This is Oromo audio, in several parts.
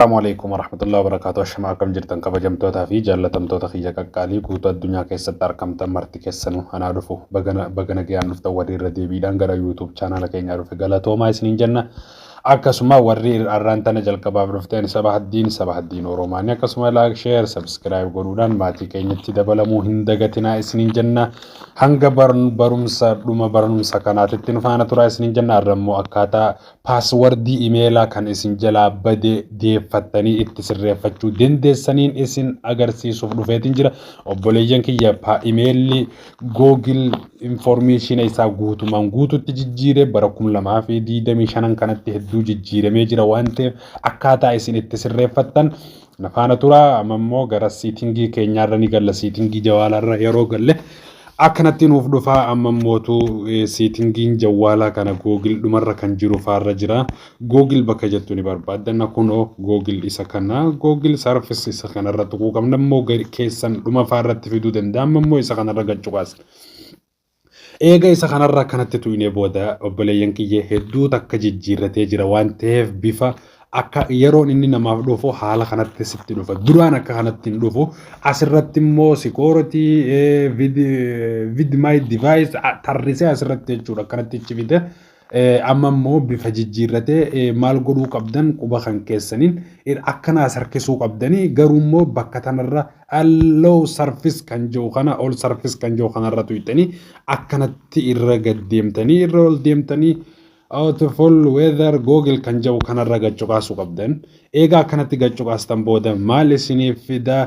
Salaamu alaikum warahmatullahi wabarakatuh Ashama akkam jirtan kabajamtoota fi jaallatamtoota kiyya qaqqaalii guutuu addunyaa keessatti arkamtan marti keessanu anaa dhufu bagana bagana gayaan dhuftan warri irra deebiidhaan gara YouTube chaanaala keenyaa dhufe galatoomaa isiniin jenna akkasuma warri arraan tana jalqabaaf dhufteen saba haddiin saba haddiin Oromaanii akkasuma laak sheer sabskiraayib godhuudhaan maatii keenyatti dabalamuu hin dagatinaa isiniin jenna hanga barumsa dhuma barumsa kanaatitti nu faana turaa isiniin jenna arrammoo akkaataa Paaswardii imeelaa kan isin jalaa bade deeffattanii itti sirreeffachuu dandeessaniin isin agarsiisuuf dhufeetiin jira. Obboleeyyan kiyya imeelli Google informeeshina isaa guutumaan guututti jijjiire bara 2025 kanatti hedduu jijjiiramee jira waan ta'eef akkaataa isin itti sirreeffattan Na faana tura amma immoo gara siitingii keenyaarra ni galla siitingii jawaalarra yeroo galle akkanatti nuuf dhufa amma immootu eh, siitingiin jawaalaa kana googil dhumarra kan jiru faarra jira googil bakka jettu ni barbaaddanna kunoo googil isa kana googil sarfis isa kanarra tuquu qabna immoo gad- keessan dhuma faarratti fiduu danda'a amma immoo isa kanarra gad cuqaasna. Eega isa kanarraa kanatti tuynee booda obboleeyyan kiyya hedduu takka jijjiirratee jira waan ta'eef bifa akka yeroon inni namaaf dhufu haala kanatti sitti dhufa. Duraan akka kanatti hin dhufu. Asirratti immoo security eh, vid, eh, vid my device ah, tarrisee asirratti jechuudha akkanatti ichi fide. Amma immoo bifa jijjiirratee maal godhuu qabdan quba kan keessaniin akkanaa as harkisuu qabdanii garuu immoo bakka tanarra low surface kan jiru kana ol surface kan jiru kanarra tuyxanii akkanatti irra gad deemtanii irra ol deemtanii out of all weather google kan jiru kanarra gad cuqaasuu qabdan. Eegaa akkanatti gad cuqaastan booda maal isiniif fida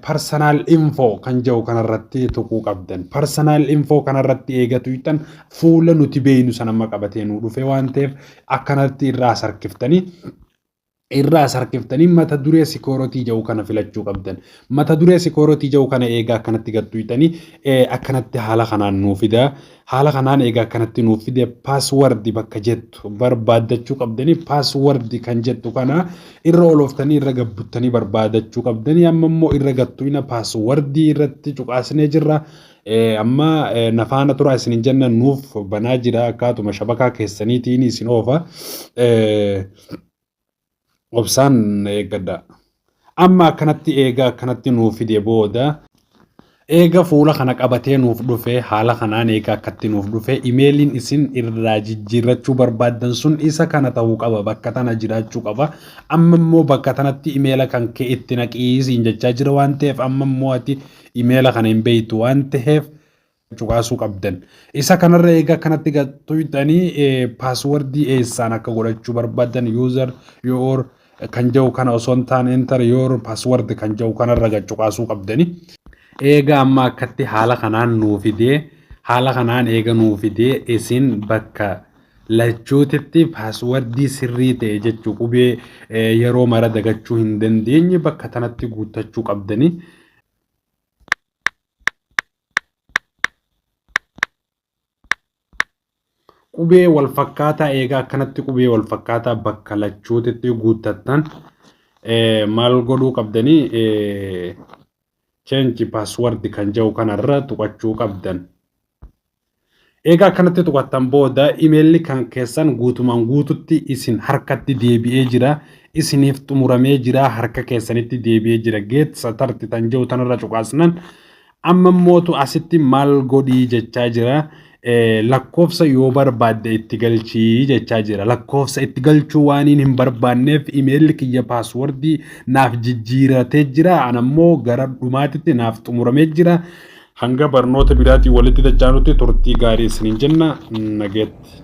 personal info kan jedhu kanarratti tuquu qabdan. Personal info kanarratti eega tuqxan fuula nuti beeynu san amma qabatee nu dhufe waan ta'eef akkanatti irraa sarkiftanii irraa sarkiftanii mata duree sikooratii jedhu kana filachuu qabdan. Mata duree sikooratii jedhu kana eegaa akkanatti gad tuqxanii akkanatti haala kanaan nuu fida. Haala kanaan eega akkanatti nuuf fide password bakka jettu barbaaddachuu qabdanii password kan jettu kana irra olooftanii irra gabbuttanii barbaadachuu qabdanii amma immoo irra gattuina password irratti cuqaasnee jirra. Amma nafaana turaa isin hin jenna nuuf banaa jira akkaatuma shabakaa keessaniitiin isin oofa. Obsaan na eeggadhaa. Amma akkanatti eega akkanatti nuuf fide booda eega fuula kana qabatee nuuf dhufe haala kanaan eega akkatti nuuf dhufe imeeliin isin irraa jijjiirrachuu barbaaddan sun isa kana ta'uu qaba bakka tana jiraachuu qaba amma immoo bakka tanatti imeela kan kee itti naqiisiin jechaa jira waan ta'eef amma immoo ati imeela kana hin beektu waan ta'eef cuqaasuu qabdan. Isa kanarra egaa kanatti tuqxanii paaswordii eessaan akka godhachuu barbaadan user your kan jedhu kana osoo hin taane enter your password kan jedhu kanarra gad cuqaasuu qabdani. Eega amma akkatti haala kanaan nuu fidee haala kanaan eega nuu fidee isin bakka lachuutitti paaswordii sirrii ta'e jechuu qubee eh, yeroo mara dagachuu hin dandeenye bakka tanatti guuttachuu qabdanii. qubee wal fakkaataa eegaa akkanatti qubee wal fakkaataa bakka lachuutitti guuttattan maal godhuu qabdanii cheenji paaswardi kan jedhu kanarra tuqachuu qabdan. Eegaa akkanatti tuqattan booda imeelli kan keessan guutumaan guututti isin harkatti deebi'ee jira. Isiniif xumuramee jira harka keessanitti deebi'ee jira. Geet satarti tan jiru tanarra cuqaasnan amma mootu asitti maal godhii jechaa jira. Lakkoofsa yoo barbaadde itti galchii jechaa jira. Lakkoofsa itti galchuu waaniin hin barbaanneef imeelli kiyya paaswordii naaf jijjiiratee jira. Anammoo gara dhumaatitti naaf xumuramee jira. Hanga barnoota biraatiin walitti dachaanutti turtii gaarii isiniin jenna. Nagatti.